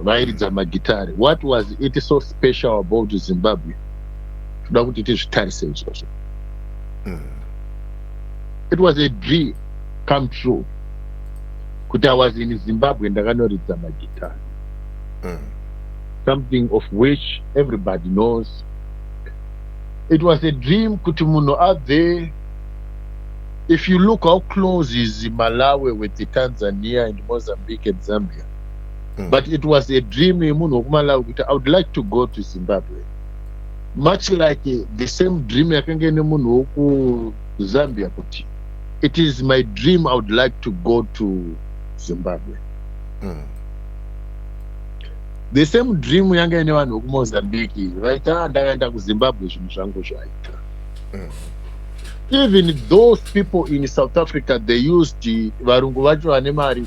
vairidza magitare what was it so special about zimbabwe toda kuti tizvitarise izvozvo mm. it was a dream come true kuti i was in zimbabwe ndakanoridza magitare mm. something of which everybody knows it was a dream kuti munhu abve if you look how close is malawi with tanzania and mozambique and zambia mm. but it was a dream yemunhu wokumalawi kuti i would like to go to zimbabwe much like the same dream yakanga ine munhu wokuzambia kuti it is my dream i would like to go to zimbabwe mm. the same dream yanga ine vanhu vokumozambique vaita ah, ndakaenda kuzimbabwe zvinhu zvangu zvaita mm. even those people in south africa they used varungu vacho vane mari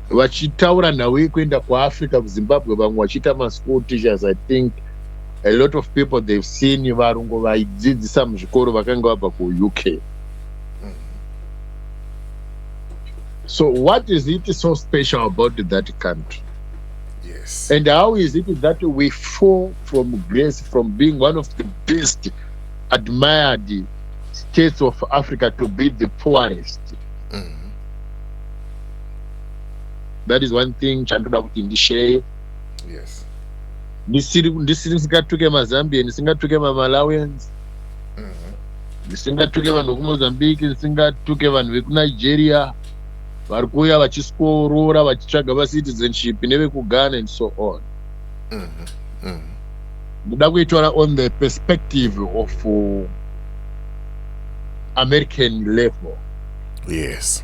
Vachitaura nhau yekuenda kuAfrica kuZimbabwe vamwe vachiita maschool teachers I think a lot of people they've seen varungu vaidzidzisa muzvikoro vakanga vabva kuUK. Mm-hmm. So what is it so special about that country? Yes. And how is it that we fall from grace from being one of the best admired states of Africa to be the poorest? Mm. that is one thing chandoda kuti ndisheye yes ndisiri ndisiri singatuke mazambian singatuke mamalawians Mhm. ndisingatuke vanhu vekumozambique ndisingatuke vanhu vekunigeria vari kuuya vachiskorora vachitsvaga vacitizenship nevekugana and so on Mhm. Mhm. ndoda kuitora on the perspective of uh, american level yes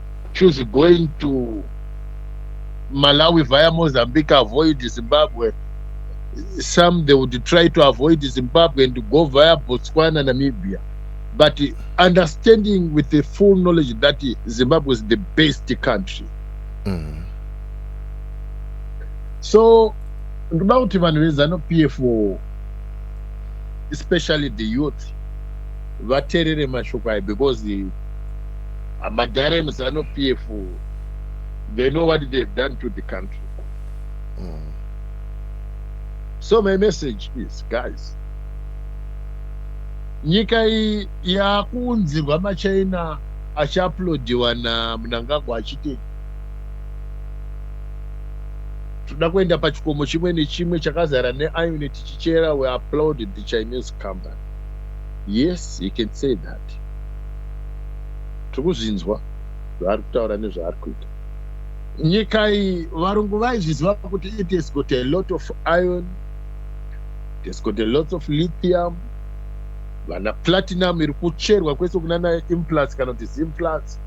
choose going to Malawi via Mozambique, avoid Zimbabwe. Some they would try to avoid Zimbabwe and go via Botswana, Namibia. But understanding with the full knowledge that Zimbabwe is the best country. Mm. So, ndoda kuti vanhu vezano PF especially the youth vaterere mashoko ayo because hamadare muzanu pf they know what they have done to the country mm. so my message is guys nyika iyi yakuunzirwa machina achiaplodiwa namunangagwa achiti toda kuenda pachikomo chimwe nechimwe chakazara neione tichichera we applaud the chinese company yes he can say that kuti tiri kuzvinzwa zvaari kutaura nezvaari kuita. Nyika iyi varungu vaizviziva kuti it has got a lot of iron, it has got a lot of lithium, vana platinum iri kucherwa kwese kunana implus kana kuti zimplus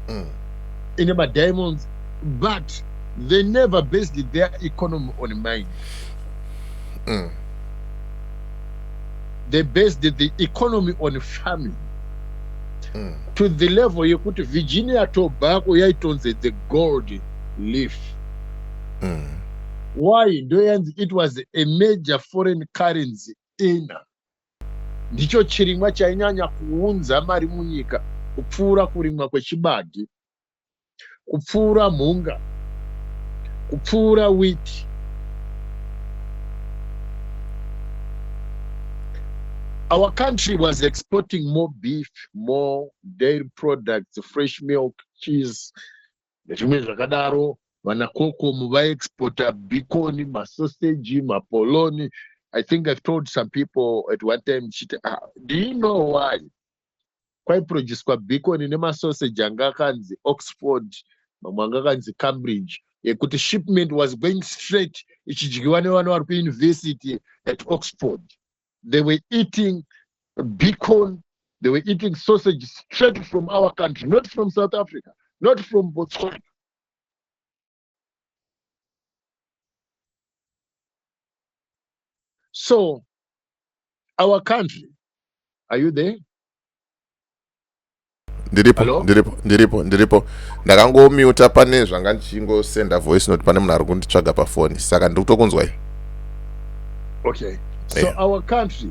mm. ine madiamonds but they never based their economy on mine mm. they based the economy on farming mm. to the level yekuti virginia tobacco yaitonzi the gold leaf mm. why ndoyanzi it was a major foreign currency ina ndicho chirimwa chainyanya kuunza mari munyika kupfuura kurimwa kwechibage kupfuura mhunga, kupfuura witi. Our country was exporting more beef, more dairy products, fresh milk, cheese, nezvimwe zvakadaro. Vana koko muvaexporta bikoni, masoseji, mapoloni. I think I've told some people at one time, ah, do you know why? kwaiproducwa bikoni nemasoseji anga akanzi oxford mamwe anga akanzi cambridge yekuti shipment was going straight ichidyiwa nevana vari kuuniversity at oxford they were eating bicon they were eating sausage straight from our country not from south africa not from botswana So, our country, are you there? ndiripo ndiripo ndiripo ndiripo ndakangomuta pane zvanga ndichingosenda voice note pane munhu ari kunditsvaga pafoni saka ndiri kutokunzwai okay so yeah. our country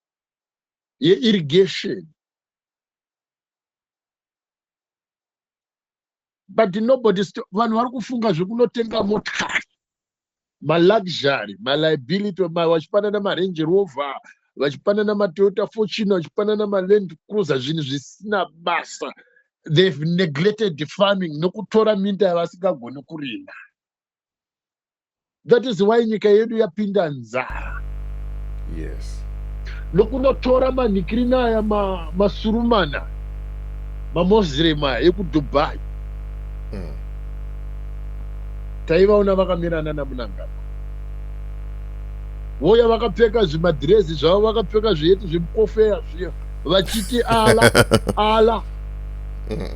yeirrigation but nobody vanhu vari kufunga zvekunotenga motikari maluxury maliability vachipanana marange rover vachipanana matoyota fortune vachipanana maland cruiser zvinhu zvisina basa they've neglected farming nokutora minda yavasingagoni kurima that is why nyika yedu yapinda nzara yes nokunotora manikirina aya ma, masurumana mamoslem aya ekudubai mm. taivaona vakamirana namunangagwa voya vakapfeka zvimadhirezi zvavo vakapfeka zviyeti zvemukofeya zviya vachiti ala ala mm.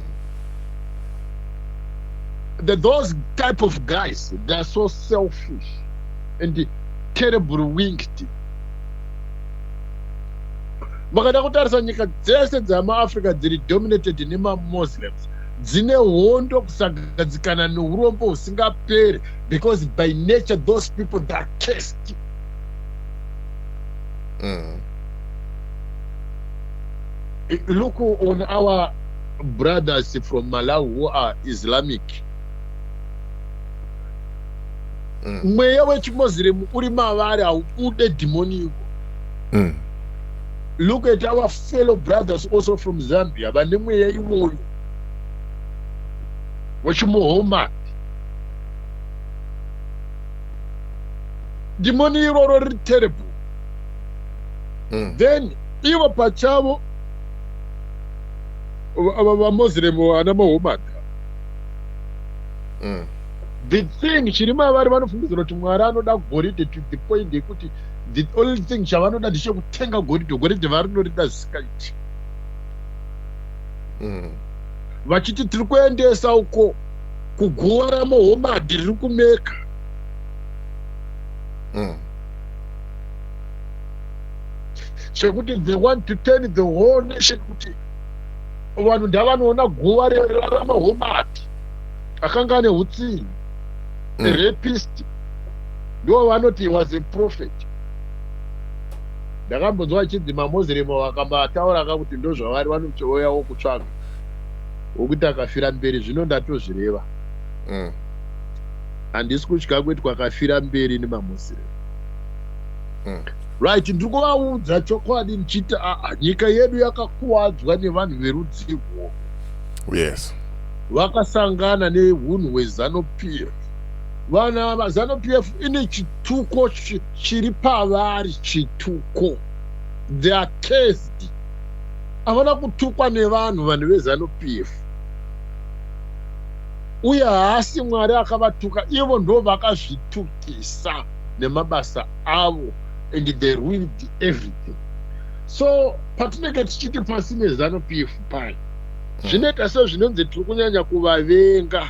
that those type of guys they are so selfish and terrible winked vakada kutarisa nyika dzese dzamaafrica dziri dominated nemamuslims dzine hondo kusagadzikana neurombo husingaperi because by nature those people they are cast mm. look on our brothers from malawi who are islamic mm. mweya wechimuslim uri mavari haubude dhimoni iko mm. look at our fellow brothers also from zambia vane mweya iwoyo wechimuhoma dhimoni iroro riri terrible mm. then ivo pachavo ava vamoslem ana mahomada mm. the thing chiri mavari vanofungidzira kuti mwari anoda goridhe to the point yekuti the only thing chavanoda ndichekutenga goridhe goridhe varinorida zisikaiti mm. vachiti tiri kuendesa uko kugora mohomadi riri kumeka mm. chekuti they want to turn the whole nation kuti vanhu ndavanoona guva rerarama homati akanga ane utsinyi mm. rapist ndo vanoti was a prophet ndakambonzwa achinzi mamoziremu vakambataura ka kuti ndozvavari vanotouyawo kutsvaga wokuti akafira mberi zvino ndatozvireva mm. handisi kutya kuitwa akafira mberi nemamoziremu mm. right ndiri kuvaudza chokwadi ndichiti ah, ah, nyika yedu yakakuwadzwa nevanhu verudzi irwovo yes vakasangana neunhu hwezanu p f vana vazanu p f ine chituko chiri pavari chituko they are cased havana kutukwa nevanhu vanhu vezanu p f uye haasi mwari akavatuka ivo ndo vakazvitukisa nemabasa avo and they ruined everything so patinenge tichiti pasi nezanu pf pai mm. zvinoita sezvinonzi tiri kunyanya kuvavenga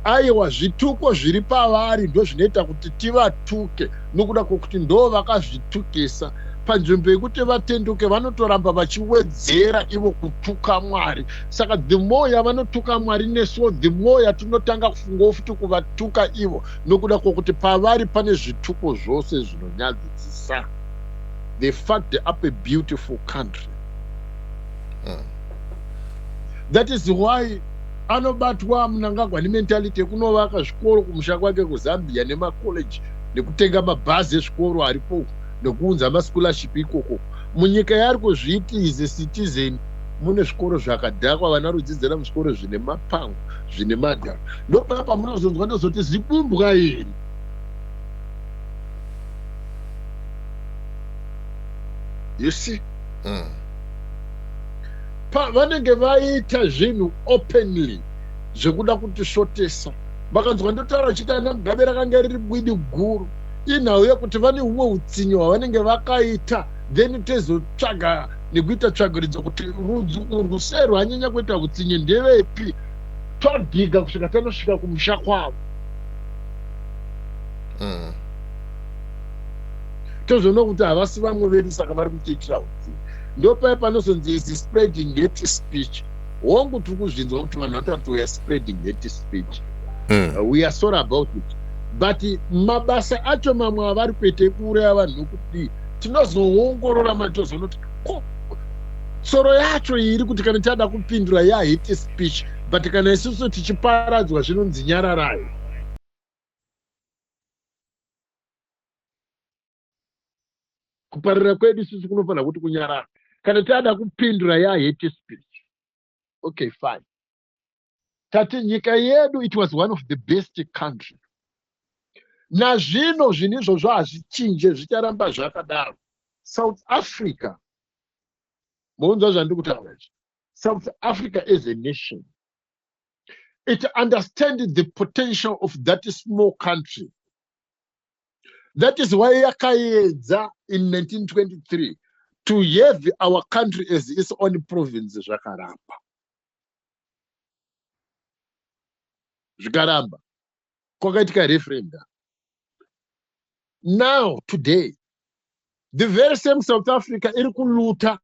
aiwa zvituko zviri pavari ndo zvinoita kuti tivatuke nokuda kwokuti ndo vakazvitukisa panzvimbo yekuti vatenduke vanotoramba vachiwedzera ivo kutuka mwari saka the more yavanotuka mwari nesuwo the more yatinotanga kufungawo futi kuvatuka ivo nokuda kwokuti pavari pane zvituko zvose zvinonyadzisisa they fucked up a beautiful country mm. that is why anobatwa munangagwa nementality yekunovaka zvikoro kumusha kwake kuzambia nemacollege nekutenga mabhazi ezvikoro aripo nekuunza mascholarship ikoko Munyika yaari kuzviti is a citizen mune zvikoro zvakadhakwa vana rudzidzira muzvikoro zvine mapango zvine madhara ndopaya pamunozonzwa ndozoti zibumbwa iri you see mm. vanenge vaita zvinhu openly zvekuda kutisvotesa vakanzwa ndotaura chiti ana mugabe rakanga riri bwidi guru inhau yekuti vane humwe utsinye hwavanenge vakaita then tezotsvaga nekuita tsvagiridzo kuti rudzi urwu sei rwanyanya kuita utsinye ndevepi todhiga kusvika tanosvika kumusha kwavo mm. tozoona kuti havasi vamwe vedu saka vari kutiitira utsinye ndopaye panozonzi is spreading hate speech hongu tiri kuzvinzwa kuti vanhu vatorati weare spreading hate speech mm. uh, we are sorry about it but mabasa acho mamwe avari kuita ekuuraya vanhu nokudii tinozoongorora mari tozoona kuti ko tsoro yacho iri kuti kana tiada kupindura yahate speech but kana isusu tichiparadzwa zvinonzi nyararayo kuparira kwedu sisi kunofanira kuti kunyarara kana taada kupindura yahate speech okay fine tati nyika yedu it was one of the best country nazvino zvinhu izvozvo hazvichinje zvicharamba zvakadaro south africa mounzwa zvandiri kutaura izvi south africa as a nation it understanded the potential of that small country that is why yakaedza in 1923 to have our country as its own province zvakaramba zvikaramba kwakaitika referendum now today the very same south africa iri kuluta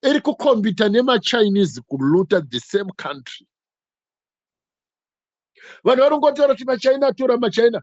iri kukombita nemachinese kuluta the same country vanhu vanongotaura kuti machina atora machina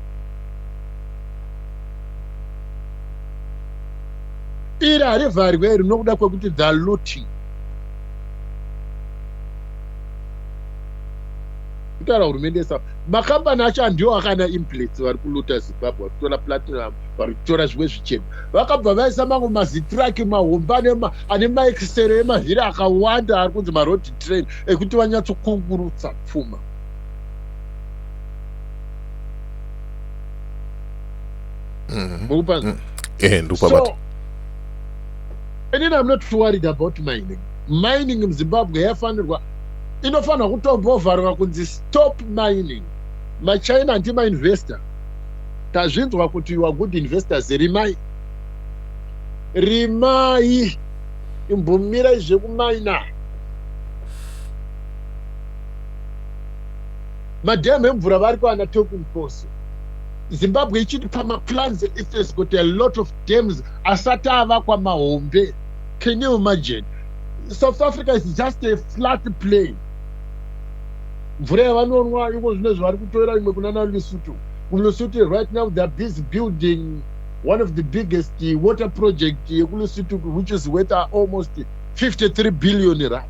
iri harivharwe iri nokuda kwekuti the looting kutaura hurumende yesa makambani acho andiwo akana implets vari kuluta zimbabwe vari kutora platinum vari kutora zvimwe zvichena vakabva vaisa mamwe mazitraki mahomba ane maekisero emavhiri akawanda ari kunzi maroad train ekuti vanyatsokungurutsa pfuma mm-hmm. mukupanza mm. eh, so inini am not worried about mining mining muzimbabwe yafanirwa inofanirwa kutombovharwa kunzi stop mining machina antimainvestor tazvinzwa kuti you are good investors rimai rimai imbumira izvekumaina madam emvura vari kwana toku nkosi zimbabwe ichiti pamaplans it has got a lot of dams asati avakwa mahombe can you imagine south africa is just a flat plane mvura yavanonwa iko zvino zvavari kutoera imwe kunana lusutu kulusutu right now theyare busy building one of the biggest water project yekulusutu which is worth almost 53 billion rand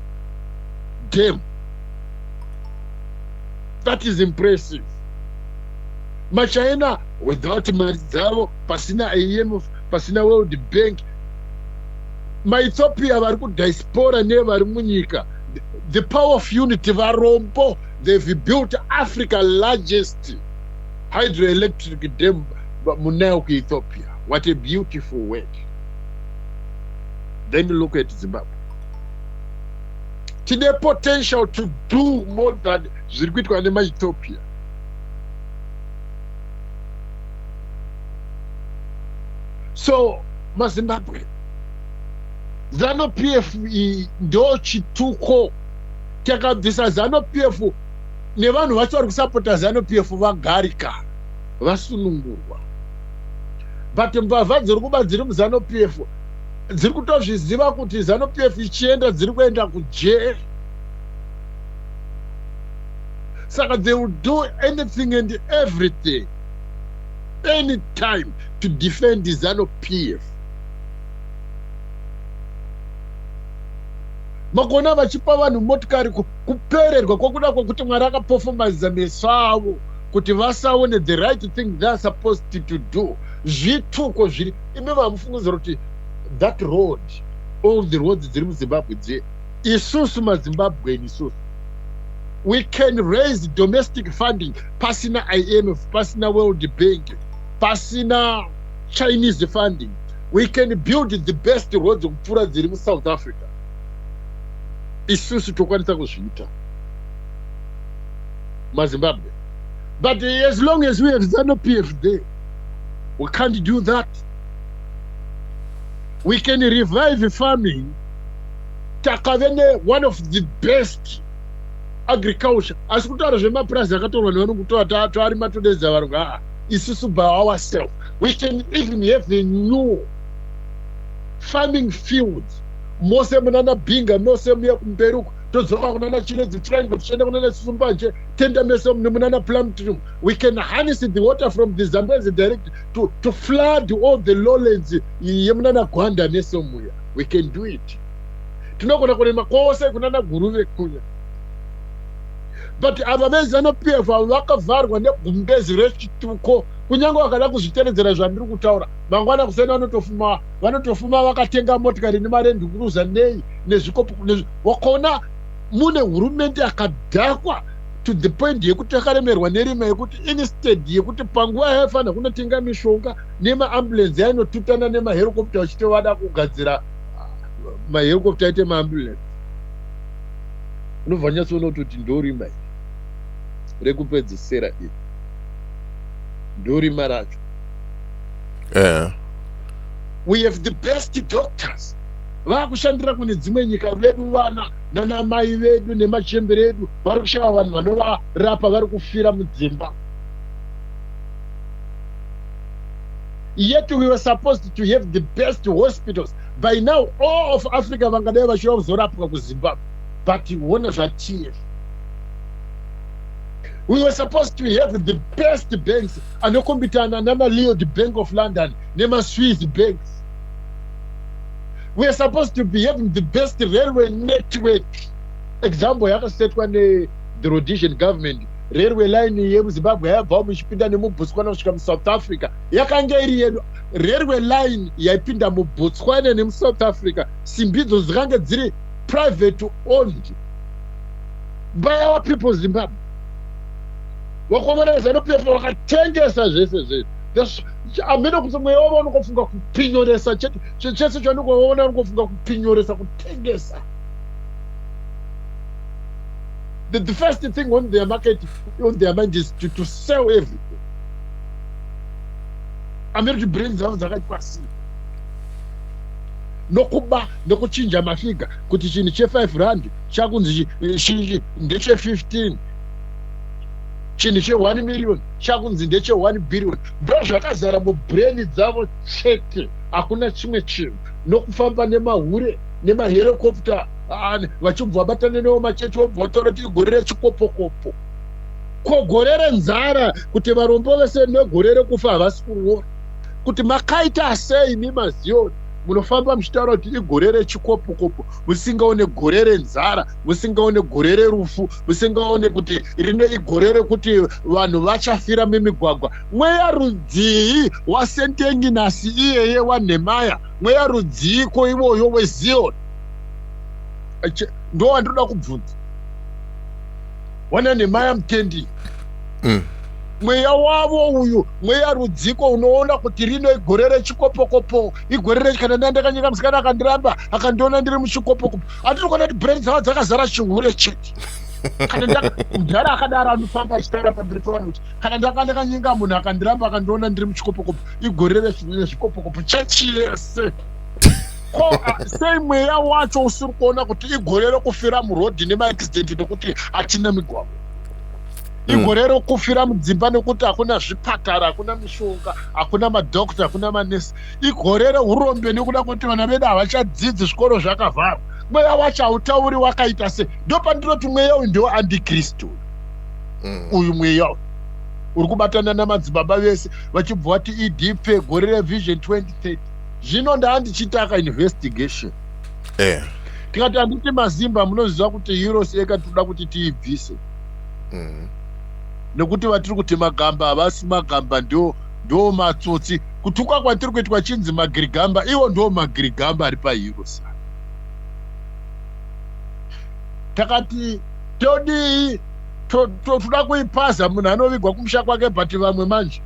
Damn. That is impressive. Machina without mari dzavo pasina IMF pasina World Bank maethiopia vari kudiaspora nevari munyika the power of unity varombo they've built africa largest hydroelectric dam munayo kuethiopia what a beautiful work then look at zimbabwe tine potential to do more than zviri kuitwa nemaethiopia so mazimbabwe zano p f iyi ndo chituko takabvisa zano p f nevanhu vacho vari kusapota zano p f vagarika vasunungurwa but mbavha dziri kuba dziri muzano p f dziri kutozviziva kuti zanu pf ichienda dziri kuenda kujeri saka they will do anything and everything any time to defend zanu pf makona vachipa vanhu motikari kupererwa kwakuda kwekuti mwari akapofomaziza meso avo kuti vasaone the right thing theyare supposed to do zvituko zviri imi vamufungidzira kuti that road all the roads dziri muzimbabwe dziye isusu mazimbabweni isusu we can raise domestic funding pasina imf pasina world bank pasina chinese funding we can build the best roads kupfuura dziri musouth africa isusu tokwanisa kuzviita mazimbabwe but as long as we have zanu pf there We can't do that. We can revive farming. Takave ne one of the best agriculture. Asi kutaura zvemapurazi akatorwa nevanhu kutora tari matodedza vanhu haa isusu by ourselves. We can even have a new farming fields mose munana binga mose muya kumberuko todzoka kunana chiredzi triangle tichienda kunana sumbaje tenda mese nemunana plumtrum we can harness the water from the zambezi direct to, to flood all the lowlands yemunana gwanda nesomuya we can do it tinogona kurima kwose kunana guruve kuya but ava vezanu p f avo vakavharwa negumbezi rechituko kunyange vakada kuzviteredzera zvandiri kutaura mangwana kuseni vanotofuma vanotofuma vakatenga motikari nemarendi kuruza nei nezvikopo wakaona mune hurumende yakadhakwa to the point yekuti takaremerwa nerima yekuti instead yekuti panguva yaifanira kunotenga mishonga nemaambulensi yainotutana nemaherokopta vachiti vada kugadzira ah, maherokopta aite maambulensi unobva nyatsoona kutoti ndorima iri rekupedzisira iri ndorima racho eh. we have the best doctors vakushandira kune dzimwe nyika vedu vana nana mai vedu nemachembere edu vari kushaya vanhu vanovarapa vari kufira mudzimba yet we were supposed to have the best hospitals by now all of africa vangadai vachiva kuzorapwa kuzimbabwe but hona zvatf we were supposed to have the best banks anokombitana nana leod bank of london nemaswiss banks weare supposed to be having the best railway network example yakasetwa ne the rhodesian government railway line yemuzimbabwe yayabvawo muchipinda nemubotswana kusvika musouth africa yakanga iri yedu railway line yaipinda mubotswana nemusouth africa simbidzo dzikange dziri private owned by our people zimbabwe wakomereza nopepa wakatengesa zvese zvese amene kuti mweya wavo unokofunga kupinyoresa chete chese chandinge waona ungofunga kupinyoresa kutengesa the, the first thing on their market on their mind is to, to sell everything amiri kuti brain dzavo dzakachwasira nokuba nokuchinja mafiga kuti chinhu chefive rand chakunzi shinji ndechefifteen chinhu cheone million chakunzi ndecheone billion ndozvakazara mubrain dzavo chete hakuna chimwe chinhu nokufamba nemahure nemaherekopta vachibva vabatana newo machechi wobva wataura kuti igore rechikopokopo ko gore renzara kuti varombo vese negore rekufa havasi kuroora kuti makaita sei imi maziyoni munofamba muchitaura kuti igore rechikopokopo musingaone gore renzara musingaone gore rerufu musingaone kuti rine igore rekuti vanhu vachafira mimigwagwa Mweya rudzii waSentenginasi iyeye waNhemaya? Mweya rudziiko iwoyo weZioni? Ndowandinoda kubvunza wana Nhemaya Mutendi. Mm mweya wavo uyu mweya rudziko unoona kuti rino igore rechikopokopo igore rechikana nda ndakanyika musikana akandiramba akandiona ndiri muchikopokopo hatiri kuona kuti brand dzavo dzakazara chihure chete kana mudhara akadaro anofamba achitaura pamberi pavanhu kuti kana ndanga ndakanyenga munhu akandiramba akandiona ndiri muchikopokopo igore rese nene zvikopokopo chechi yese ko a- sei mweya wacho usiri kuona kuti igore rokufira murodhi nemaaccident nekuti hatina migwagwa Mm. igore rokufira mudzimba nekuti hakuna zvipatara hakuna mishonga hakuna madokta hakuna manesi igore reurombe nekuda kwekuti vana vedu havachadzidzi zvikoro zvakavharwa mweya wacho hautauri wakaita sei ndopandinoti mweya uyu ndiwo andikristu mm. uyu mweya uri kubatana namadzibaba vese vachibva vati edp gore revision 2030 zvino ndaandichitaka investigation eh. tikati handiti mazimba munoziva kuti euros eka tinoda kuti tiibvise mm. nekuti vatiri kuti magamba havasi magamba ndo ndo matsotsi kutuka kwatiri kuitwa chinzi magirigamba iwo ndo magirigamba ari paeuros takati todii toda kuipaza munhu anovigwa kumusha kwake but vamwe manje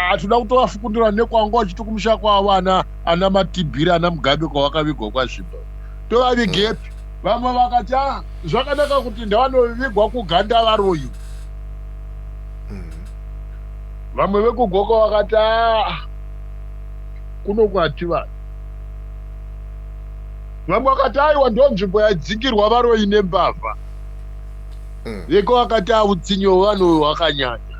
hatoda ah, kutovafukundura nekwanga wachiti kumusha kwavo ana ana matibhiri ana mugabe kwavakavigwa kwazvimba tovavigepi vamwe vakati a ah, zvakanaka kuti ndavanovigwa kuganda varoyi vamwe vekugoka vakati a ah, kunokwati vanhu Vamwe vakati aiwa ndonzvimbo yaidzingirwa varoyi nembavha. Mm. Veko vakati autsinye hwevanhu uyu hwakanyanya.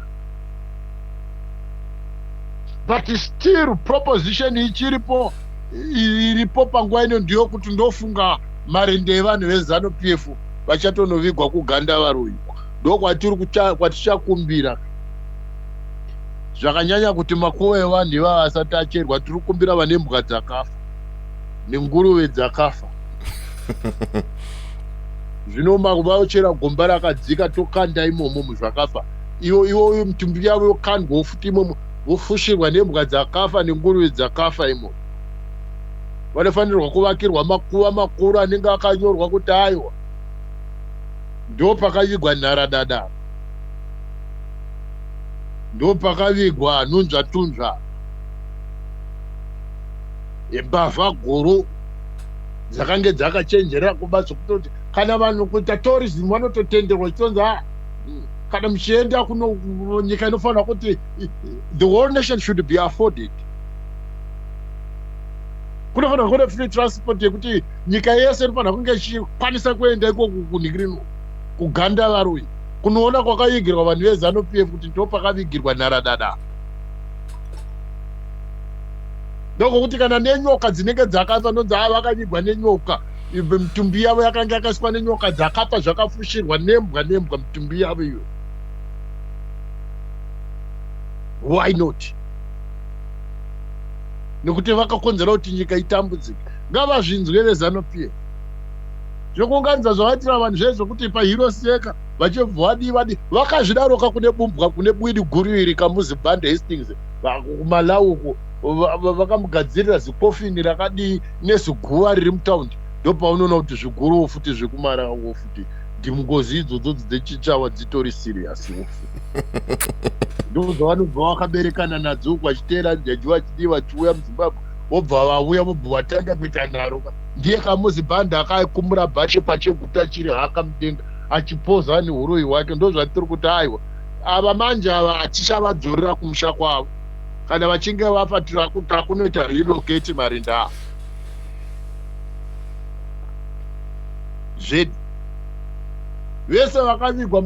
But still proposition ichiripo iripo panguva ino ndiyo kuti ndofunga marende evanhu vezanu pf vachatonovigwa kuganda varoyi ndokwatiri kwatichakumbira zvakanyanya kuti makuva evanhu ivava asati acherwa tiri kumbira vane mbwa dzakafa nenguruve dzakafa zvino vachera gomba rakadzika tokanda imomo muzvakafa iwo iwoyo mitumbi yavo yokandwawo futi imomo vofushirwa nembwa dzakafa nenguruve dzakafa imomo vanofanirwa kuvakirwa makuva makuru anenge akanyorwa kuti aiwa ndo pakavigwa nharadada ndo pakavigwa nhunzvatunzva mbavha guru dzakange dzakachenjera kuba dzokutoti kana vanhu kuita tourism vanototenderwa chitonzi a ah, kana muchienda kuno nyika inofanira kuti the whole nation should be afforded kunofanira kune free transport yekuti nyika yese inofanira kunge ichikwanisa kuenda ikoku kunhikirino kuganda varoi kunoona kwakavigirwa vanhu vezanu p f kuti ndopakavigirwa nharadada ndokuti kana nenyoka dzinenge dzakafa ndonzi ava vakanyigwa nenyoka mitumbi yavo yakanga yakaiswa nenyoka dzakafa zvakafushirwa nembwa nembwa mitumbi yavo iyo why not nekuti vakakonzera kuti nyika itambudzike ngavazvinzwe vezanupf zvekuunganidza zvavaitira vanhu zvaye zvekuti pahiro seka vachibva vadii vadii vakazvidaroka kune bumbwa kune bwidi guru iri kamuzibande hastings kumalawi uko vakamugadzirira zikofini rakadii neziguva riri mutaundi ndopaunoona kuti zviguruwo futi zvekumarawiwo futi ndingozi idzodzo dzechichawa dzitori serious ufu ndozvavanobva vakaberekana nadzo uku vachiteera jaji vachidii vachiuya muzimbabwe vobva vauya vobva vatanga kuita nharo ka ndiye kamuzibhanda akakumura bhashe pacheguta chiri haka mudenga achipoza nehuroyi hwake ndozvatiri kuti aiwa ava manje ava hatichavadzorera kumusha kwavo kana vachinge vafa takunoita relocate marinda ava zvedu vese vakavigwa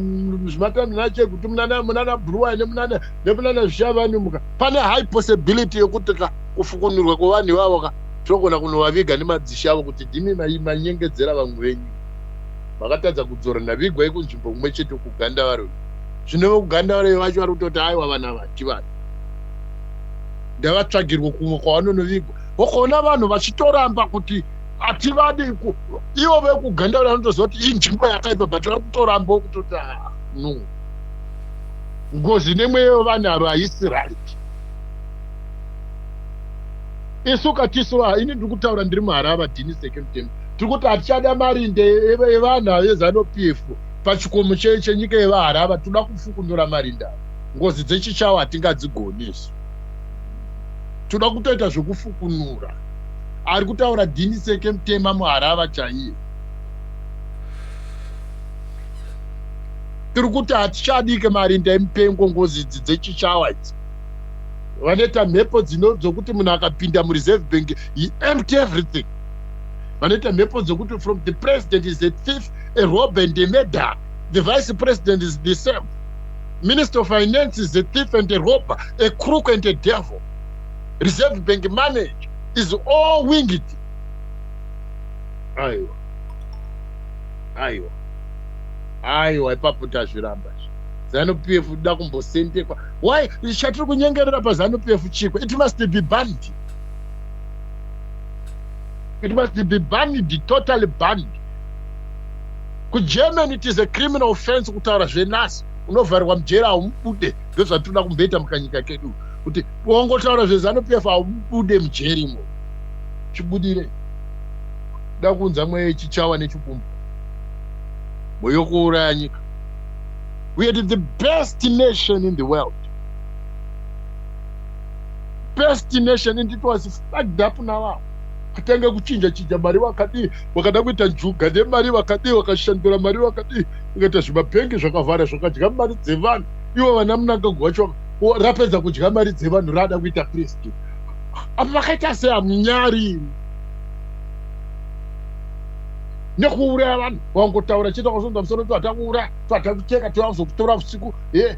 zvimatani nacho ekuti munana munana bruwa nemunana nemunana zvichavanumuka pane high possibility yekuti ka kufukunurwa kwevanhu ivavo ka tinogona kunovaviga nemadzisha avo kuti ndimi manyengedzera vamwe venyu Makatadza kudzora Nhavigwai kunzvimbo kumwe chete uku Gandavare uyu. Zvino vekuGandavare vacho vari kutoti aiwa vanhu ava handivanhu. Ndavatsvagirwe kumwe kwavanonovigwa. Ukaona vanhu vachitoramba kuti hativadi ku ivo vekuGandavare vanotoziva kuti inzvimbo yakaipa but vari kutoramba kutoti ah, no. Ngozi nemweya yevanhu ava haisi right. Isu katisu ah, ini ndiri kutaura ndiri muHarava Dini Second Temple. tiri kuti hatichada marinde evanhu ave zanu pf pachikomo chenyika yevaharava tinoda kufukunura marinde ava ngozi dzechichawo hatingadzigoni isu tinoda kutoita zvekufukunura ari kutaura dini seke mutema muharava chaiye tiri kuti hatichadike marinda emupengo ngozi idzi dzechichawa idzi vanoita mhepo dzino dzokuti munhu akapinda mureserve bank he empty everything vanoita mhepo dzekuti from the president is a thief a rob and a murder the vice president is the same minister of finance is a thief and a rober a crook and a devil reserve bank manage is all winged aiwa aiwa aiwa ipapo tazviramba zanup f da kumbosendekwa why chatiri kunyengerera pazanup f chiko it must be banned It must be banned, totally banned. KuGermany it is a criminal offense kutaura zvenasi unovharirwa mujeri haumubude ndozvatinoda kumboita mukanyika kedu kuti wongotaura zvezanupief haumubude mujeri mo chibudire da kunza mweya yechichawa nechikumbu moyokuuraya nyika we are the best nation in the world best nation and it was fucked up navavo kutanga kuchinja chinja mari vakadii vakada kuita njuga nemari vakadii vakashandura mari vakadii vakaita zvimabhengi zvakavhara zvakadya mari dzevanhu ivo vana munangagwa wacho rapedza kudya mari dzevanhu raada kuita presti apa vakaita sei hamunyari nekuuraya vanhu vangotaura chete kwasonza musoro tihata kuuraya tihata kucheka tivazokutora usiku e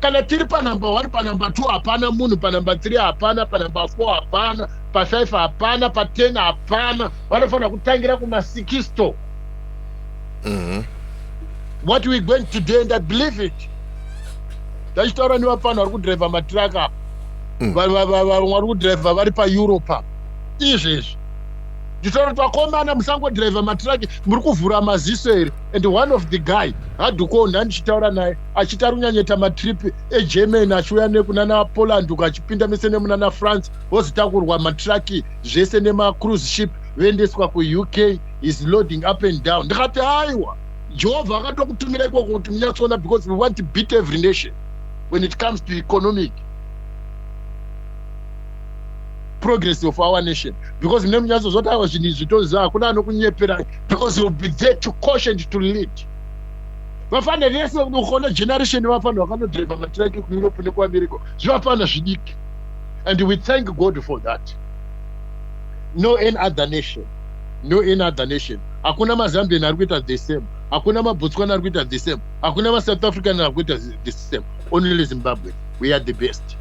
kana tiri panumber one panumber two hapana munhu panumber three hapana panumber four hapana pafive hapana paten hapana vanofanira kutangira kumasikisto mhm. what we going to do and i believe it ndachitaura nevapano vari kudriver matiraka apa mm. vamwe vari kudriver vari paeurope apa izvezvi nditaura kuti vakomana musangodriver matiraki muri kuvhura maziso here and one of the guy hadukoo ndandichitaura naye achiti ari kunyanyeta matrip egermany achiuya nekunana poland uko achipinda mese nemunana france vozitakurwa matraki zvese nemacruise ship voendeswa kuuk is loading up and down ndikati aiwa jehovha akatokutumira ikoko kuti munyatsoona because we want to beat every nation when it comes to economic progress of our nation because mune munyatso zvotaura zvinhu izvi tozaa hakuna anokunyeperai because youll be there to caution to lead vafana vese unoona generation vafana vakanodriva matiraki kueurope nekuamerica zvivafana zvidiki and we thank god for that no any other nation no any other nation hakuna mazambian ari kuita the same hakuna mabotswana ari kuita the same hakuna masouth african ari kuita the same only zimbabwe we are the best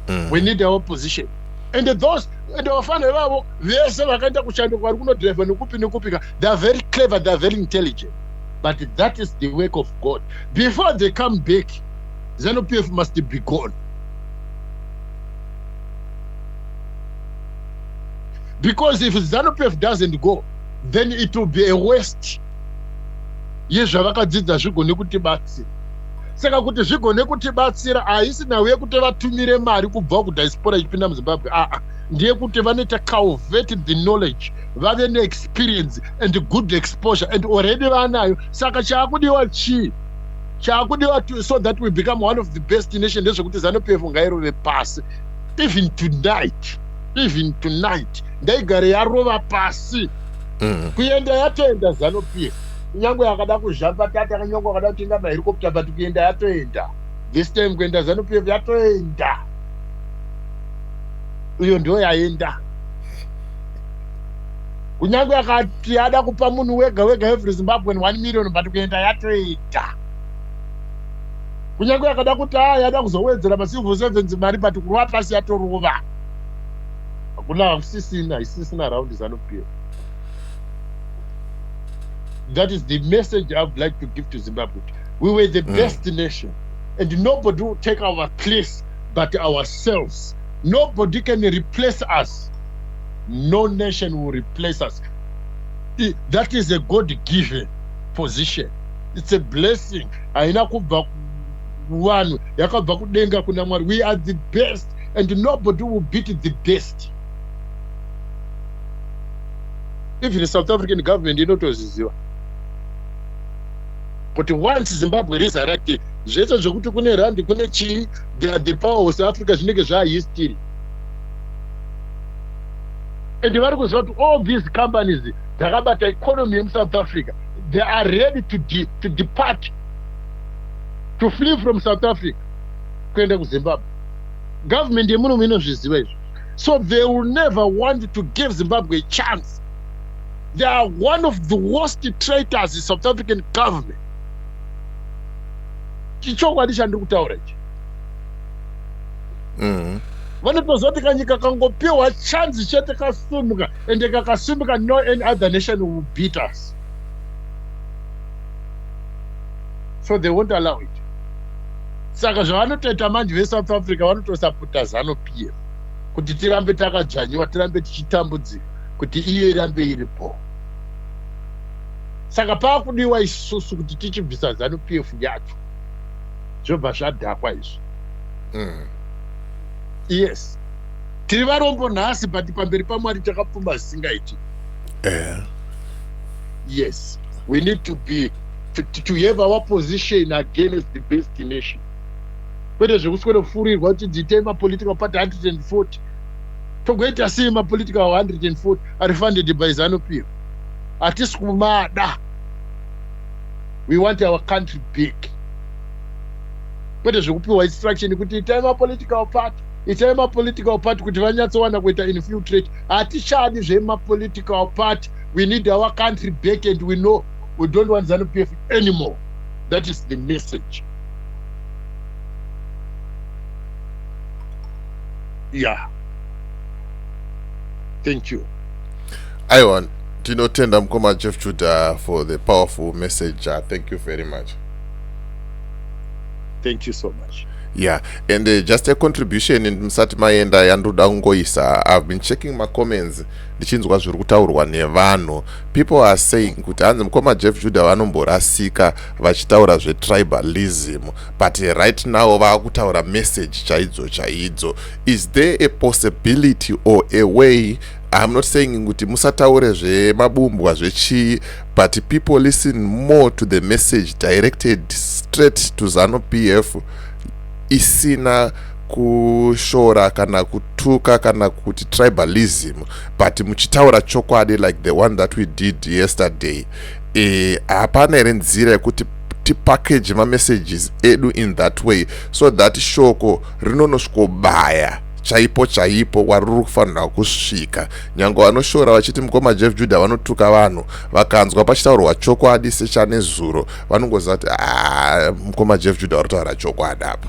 mm. we need our position and those and vafana ivavo vese vakaenda kushando kwari kunodriva nekupi nekupika they are very clever they are very intelligent but that is the work of god before they come back zanu p f must be gone because if zanu p f doesn't go then it will be a waste yezvavakadzidza zvigone kuti batsira saka kuti zvigone kutibatsira haisi nhau yekuti vatumire mari kubva kudiaspora ichipinda muzimbabwe aa ndeyekuti vanoita calvet the knowledge vave neexperience and good exposure and already vanayo saka chaakudiwa chii chaakudiwa so that we become one of the best nation ndezvekuti zanupf ngairove pasi even tonight even tonight ndaigare yarova pasi mm. kuenda yatoenda zanupf kunyange yakada kuzhapatata kunyange akada kutenga maherikopta but kuenda yatoenda this time kuenda zanupf yatoenda iyo ndiyo yaenda kunyange akati ada kupa munhu wega wega every zimbabwean one million but kuenda yatoita kunyange akada kuti a yada kuzowedzera macivil servants mari but kurova pasi yatorova hakuna hakusisina haisisina round zanupf that is the message i would like to give to zimbabwe we were the mm. best nation and nobody will take our place but ourselves nobody can replace us no nation will replace us I, that is a god given position it's a blessing haina kubva vanhu yakabva kudenga kuna mwari we are the best and nobody will beat the best even south african government inotozviziva kuti once zimbabwe resurrected zvese zvekuti kune randi kune chii the power of south africa zvinenge zvaahistory and vari kuziva kuti all these companies dzakabata economy yemusouth africa they are ready to, de, to depart to flee from south africa kuenda kuzimbabwe government yemunomu inozviziva izvo so they will never want to give zimbabwe a chance they are one of the worst traitors in south african government chichokwadi chandiri kutaura ichi mm. vanotoziva kuti kanyika kangopiwa chanzi chete kasumuka ende kakasumuka no any other nation will beat us so they won't allow it saka zvavanotoita manje vesouth africa vanotosaputa zano p f kuti tirambe takadzvanyiwa tirambe tichitambudzika kuti iyo irambe iri po saka paakudiwa isusu kuti tichibvisa zanu p f yacho zvobva zvadhakwa izvi mm. yes tiri varombo nhasi but pamberi pamwari takapfuma zvisingaiti eh. yes we need to be to, to have our position against the destination kwete zvekuswenofurirwa kuti dziitei mapolitical party 140 togoita sei mapolitical 140 ari funded by zanopiro hatisi kumada we want our country big kwete zvekupiwa instruction kuti itai mapolitical party itai mapolitical party kuti vanyatsowana kuita infiltrate hatichadi zvemapolitical party we need our country back and we know we don't want zanu p f anymore that is the message yeah thank you aiwa tinotenda mukoma jeff juda for the powerful message uh, thank you very much thank you so much yeah and uh, just a contribution musati maenda yandoda kungoisa i've been checking macomments ndichinzwa zviri kutaurwa nevanhu people are saying kuti hanzi mukoma jeff juda vanomborasika vachitaura zvetribalism but right now vakutaura message chaidzo chaidzo is there a possibility or a way I'm not saying kuti musataure zvemabumbwa zvechii but people listen more to the message directed straight to zanu pf isina kushora kana kutuka kana kuti tribalism but muchitaura chokwadi like the one that we did yesterday eh, hapana e, here nzira yekuti tipackage mamessages edu in that way so that shoko rinonosvikobaya chaipo chaipo wari ruri kufanira kusvika nyange vanoshora vachiti mukoma jeff juda vanotuka vanhu vakanzwa pachitaurwa chokwadi sechane zuro vanongoziva kuti ah, mukoma jeff juda vari kutaura chokwadi apa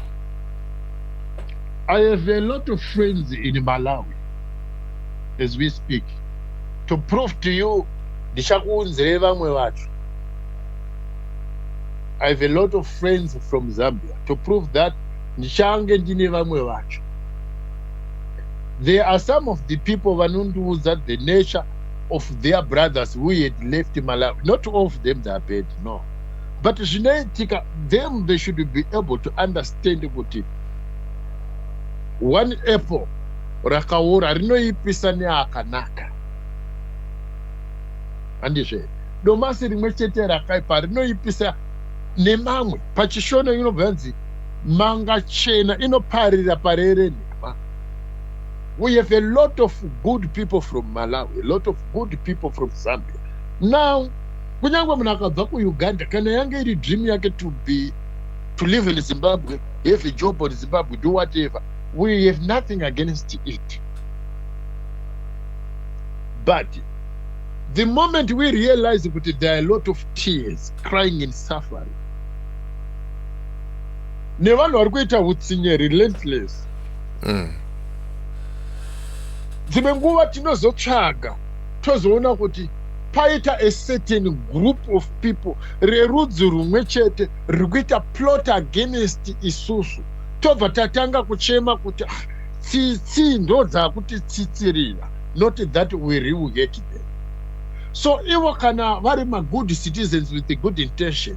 i have a lot of friends in malawi as we speak to prove to you ndichakuunzirei vamwe vacho i have a lot of friends from zambia to prove that ndichange ndine vamwe vacho there are some of the people vanondiudza the nature of their brothers who had left malawi not all of them they are bad no but zvinoitika them they should be able to understand kuti one apple rakaora rinoipisa neakanaka handizve domasi rimwe chete rakaipa rinoipisa nemamwe pachishona inobva yanzi Mangachena inoparira parerenhema we have a lot of good people from Malawi, a lot of good people from Zambia. Now, kunyangwe munhu akabva kuUganda, kana yange iri dream yake to be to live in Zimbabwe, have a job in Zimbabwe, do whatever, we have nothing against it. But the moment we realize that there are a lot of tears, crying and suffering, nevanhu vari kuita hutsinye relentless mm. dzimwe nguva tinozotsvaga tozoona kuti paita a certain group of people rerudzi rumwe chete riri kuita plot against isusu tobva tatanga kuchema kuti ah, tsitsi ndo dzakuti tsitsirira not that we real hate them so ivo kana vari magood citizens with a good intention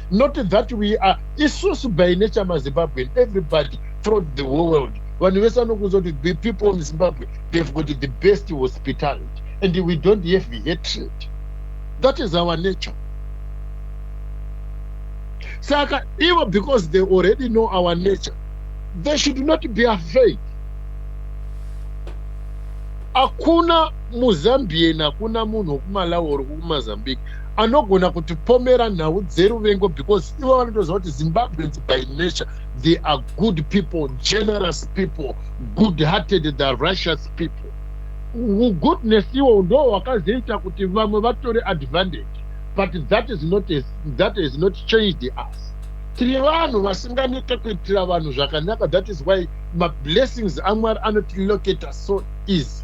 not that we are isusu by nature mazimbabwean everybody throughout the whole world vanhu vese vanokuudza kuti the people in zimbabwe they've got the best hospitality and we don't have hatred that is our nature saka ivo because they already know our nature they should not be afraid hakuna muzambian hakuna munhu wekumalawi or kumazambique anogona kutipomera nhau dzeruvengo because ivo vanotoziva kuti zimbabweans by nature they are good people generous people good hearted the russious people ugoodness iwo ndo wakazoita kuti vamwe vatore advantage but that is not a, that has not changed us tiri vanhu vasinganete kuitira vanhu zvakanaka that is why mablessings amwari anotilocata so easy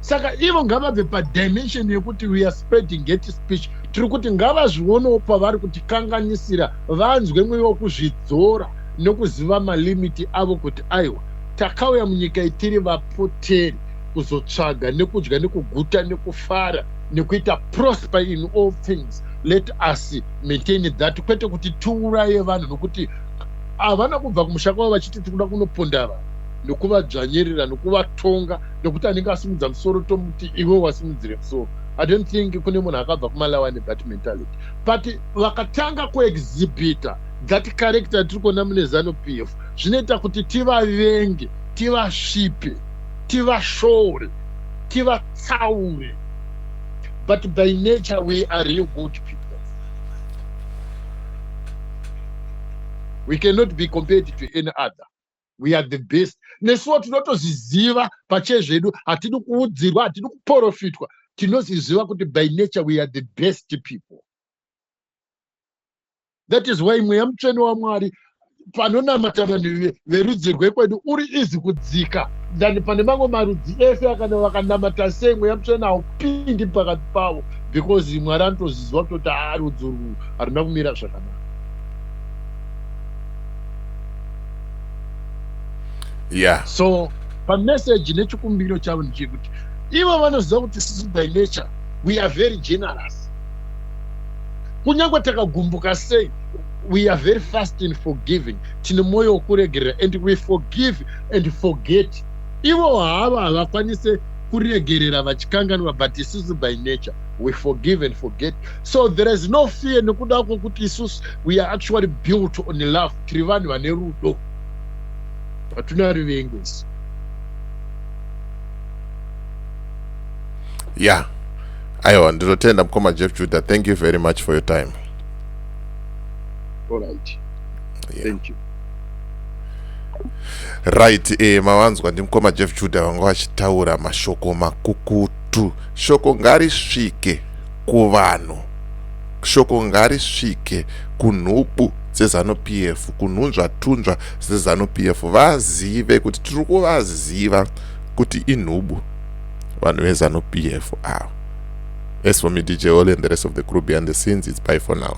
saka ivo ngavabve padimension yekuti we are spreading get speech tiri kuti ngavazvionewo pavari kuti kanganisira vanzwe mweya wekuzvidzora nokuziva malimiti avo kuti aiwa takauya munyika itiri vapoteri kuzotsvaga nekudya nekuguta nekufara nekuita prosper in all things let us maintain that kwete kuti tiuraye vanhu nokuti havana kubva kumusha kwavo vachiti tikuda kunoponda vanhu nokuvadzvanyirira nokuvatonga nokuti anenge asimudza musoro tomuti iwe wasimudzire musoro i don't think kune munhu akabva kumalawa nebat mentality but vakatanga kuexhibita that character tiri kuona mune zanu p f zvinoita kuti tivavenge tivasvipe tivashore tivatsaure but by nature we are real good people we cannot be compared to any other we are the best nesuwo tinotozviziva pachezvedu hatidi kuudzirwa hatidi kuporofitwa tinozviziva kuti by nature we are the best people that is why mweya mutsvene wamwari panonamata vanhu verudzi rwekwedu uri izi kudzika than pane mamwe marudzi ese akana vakanamata sei mweya mutsvene haupindi pakati pavo because mwari anotozviziva kutoti haa rudzi urwu haruna kumira zvakanaka yeah. so pameseji nechikumbiro chavo ndechekuti ivo vanoziva kuti sisi by nature we are very generous kunyange takagumbuka sei we are very fast in forgiving tine mwoyo wokuregerera and we forgive and forget ivo hava havakwanise kuregerera vachikanganwa but isusu by nature we forgive and forget so there is no fear nekuda kwokuti isusu we are actually built on love tiri vanhu vane rudo hatuna rivengo isu ya yeah. aiwa ndinotenda mukoma jeff juda thank you very much for your time All right. Yeah. Thank you. right eh, mavanzwa ndimukoma jeff juda vanga vachitaura mashoko makukutu shoko ngarisvike kuvanhu shoko ngarisvike kunhubu dzezanu PF kunhunzvatunzva dzezanu PF vazive kuti tiri kuvaziva kuti inhubu vanhu vezanu PF ava as for me DJ Oli and the rest of the crew behind the scenes it's bye for now